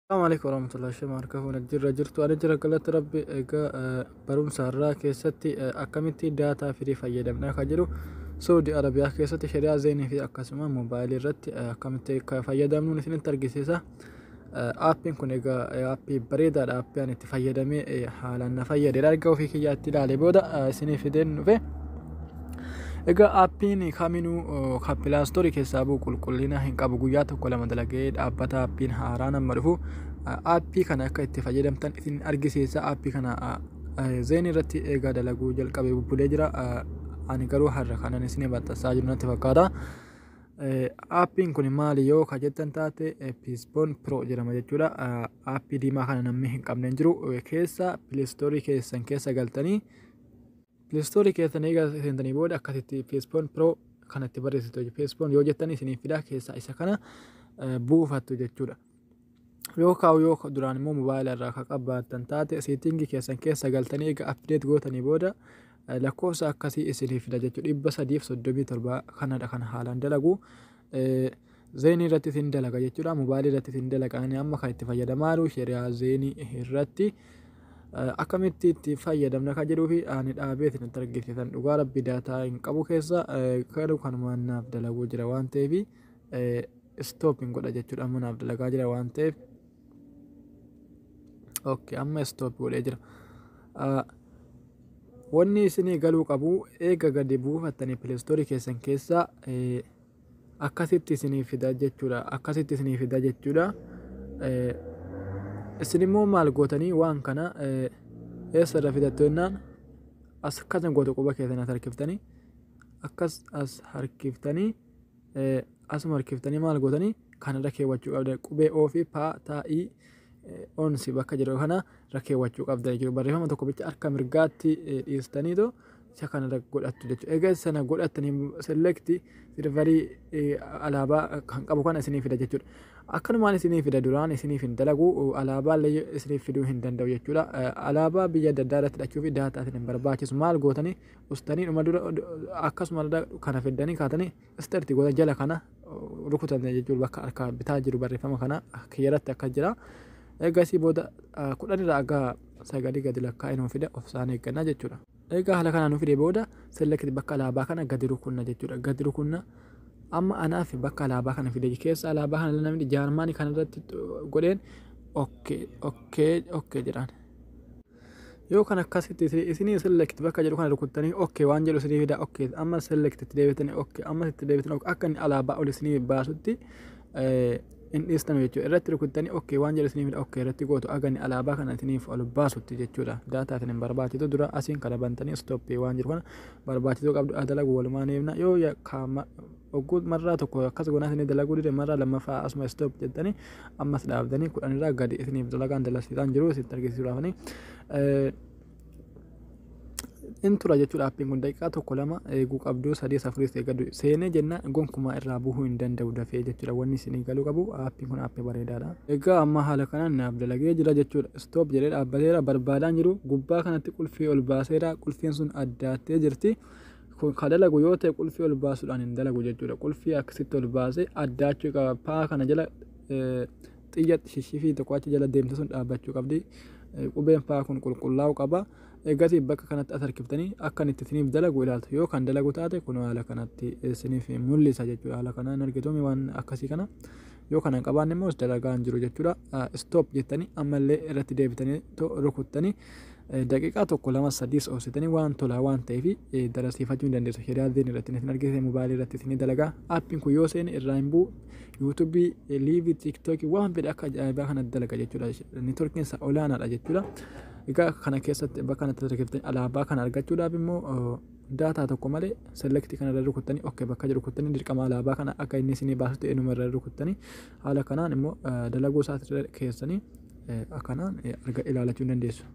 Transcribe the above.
Assalamu alaikum warahmatullahi wabarakatuh. Kun jirra jirtu ani jira galata rabbi egaa barumsa irraa keessatti akkamitti daataa firii fayyadamna akka jiru Saudi Arabiyaa keessatti shari'aa zeenii fi akkasuma moobaayilii irratti akkamitti fayyadamnuun isinitti argisiisa. Aappiin kun egaa aappii bareedaadha. Aappii ani itti fayyadamee haalaan na fayyadedha. Erga ofii kiyyaatti ilaalee booda isinii fideen dhufe. Egaa aappiin kaminuu kan pilaastoorii keessaa bu'u qulqullina hin qabu. Guyyaa tokko lama dalagee dhaabbata aappiin haaraan amma dhufu aappii kana akka itti fayyadamtan isin argisiisa. Aappii kana zeen irratti eegaa dalaguu jalqabee bubbulee jira. Ani garuu har'a kanan isin maxxansaa jiru natti fakkaata. Aappiin kun maali yoo ka jettan taate Piispoon Pro jedhama jechuudha. Aappii diimaa kana namni hin qabne hin jiru. Keessa pileestoorii keessan keessa galtanii pileestoorii keessan eega seentanii booda akkasitti Piispoon Pro kanatti barreessitu. Piispoon yoo jettan isiniif fida keessa isa kana buufattu jechuudha. yoo kaa'u yoo duraan immoo mobaayila irraa kan qabbaattan taate seetiingi keessan keessa galtanii eega apdeet gootanii booda lakkoofsa akkasii isinii fida jechuudha dhibba sadiif soddomii torbaa kanadha kan haalaan dalagu zeenii irratti isin dalaga jechuudha mobaayilii irratti isin dalaga ani amma kan itti fayyadamaa jiru sheriyaa zeenii irratti akkamitti itti fayyadamna kan jedhuu fi ani dhaabee isin argisiisan dhugaa rabbi daataa hin qabu keessa garuu kanumaan naaf dalaguu jira waan ta'eef stop hin godha jechuudha amma naaf dalagaa jira waan ta'eef ok amma stop godhee jira Ah, wanni isinii galuu qabu eega gadi buufattanii pilestoorii keessan keessaa eh, akkasitti isinii fida jechuudha akkasitti isinii fida jechuudha Eh, isin immoo maal gootanii waan kana eh, eessarra fidattu jennaan as akkana gootu quba keessan as harkiftanii akkas as harkiftanii asuma harkiftanii maal gootanii kan irra keewwachuu qabdan qubee oo fi paa taa ii ons bakka jedhu kana irra keewwachuu qabdan jechuudha barreeffama tokko bicha harka mirgaatti dhiistaniitu isa kana irra godhattu jechuudha egaa sana godhattanii selekti sirvarii alaabaa kan qabu kana isinii fida jechuudha akkanumaan isinii fida duraan isiniif hin dalagu alaabaa illee isiniif fiduu hin danda'u jechuudha alaabaa biyya adda addaa irratti hidhachuu fi daataa isin hin barbaachisu maal gootanii ustanii dhuma dura akkasuma kana fiddanii kaatanii istarti goota jala kana rukutan jechuudha bakka harka bitaa jiru barreeffama kana kiyyarratti akka jira eegasii booda kudhanirraa akka sagalii gadi lakkaa'ee nuuf fida of isaan eeggannaa jechuudha. Egaa haala kanaan nuuf fide booda selekti bakka alaabaa kana gadi rukunna jechuudha gadi rukunna amma anaaf bakka alaabaa kana fide keessa alaabaa kana namni jaarmaanii kanarratti godheen okkee okkee okkee jedhaan. yoo kan akkasitti isinii select bakka jedhu kana rukuttanii ok waan jedhu isinii fida ok amma select itti deebitanii ok amma itti deebitanii ok akka inni alaabaa ol isinii baasutti hin dhiistanu jechuudha irratti rukuttanii ok waan jedhu isinii fida ok irratti gootu akka inni alaabaa kana isiniif ol baasutti jechuudha daataa isin hin barbaachisu dura asiin kana bantanii stop waan jedhu kana barbaachisuu qabdu adalagu walumaan eebna yoo Ogguu marraa tokko akkas goonaa isinii dalaguu dide marraa lammaffaa asuma stop jettanii ammas dhaabdanii kudhanirraa gadi isiniif dalagaan dalasiisaan jiru isinitti argisiisuudhaafani. In tura jechuudha appiin kun daqiiqaa tokko lama eeguu qabdu sadii afuris eegadu seenee jenna gonkumaa irraa buhuu hin danda'u dafee jechuudha wanni isinii galuu qabu appiin kun appii bareedaadha. Egaa amma haala kanaan naaf dalagee jira jechuudha stop jedhee dhaabbateera barbaadaan jiru gubbaa kanatti qulfii ol baaseera qulfiin sun addaattee jirti. kun ka dalagu yoo ta'e qulfii ol baasuudhaan hin dalagu jechuudha qulfii akkasitti ol baasee addaachuu qaba paa kana jala xiyya shishifii tokko achi jala deemte sun dhaabbachuu qabdi qubeen paa kun qulqullaa'u qaba eegasii bakka kanatti as harkiftanii akka inni itti isiniif dalagu ilaaltu yoo kan dalagu taate kun haala kanatti isiniif mul'isa jechuudha haala kanaan argitumi waan akkasii kana yoo kana hin qabaanne immoo dalagaa hin jiru jechuudha stop jettanii ammallee irratti deebitanii rukuttanii daqiiqaa tokko lama sadiis obsitanii waan tolaa waan ta'eef darasiifachuu ni dandeessu shari'aa diin irratti isin argisiise mobaayilii irratti isin dalagaa appiin kun yoo seene irraa hin bu'u yuutuubii liivii tiiktookii waan fedhe akka ajaa'ibaa kana dalaga jechuudha neetworkiin isaa olaanaadha jechuudha egaa kana keessatti bakka kanatti argattanii alaabaa kana argachuudhaaf immoo Data tokko malee select kana irra rukuttanii ok bakka jedhu rukuttanii dirqama alaabaa kana akka inni isinii baasutti eenyuma irra rukuttanii haala kanaan immoo dalaguu isaa keessanii akkanaan arga ilaalachuu hin dandeessu.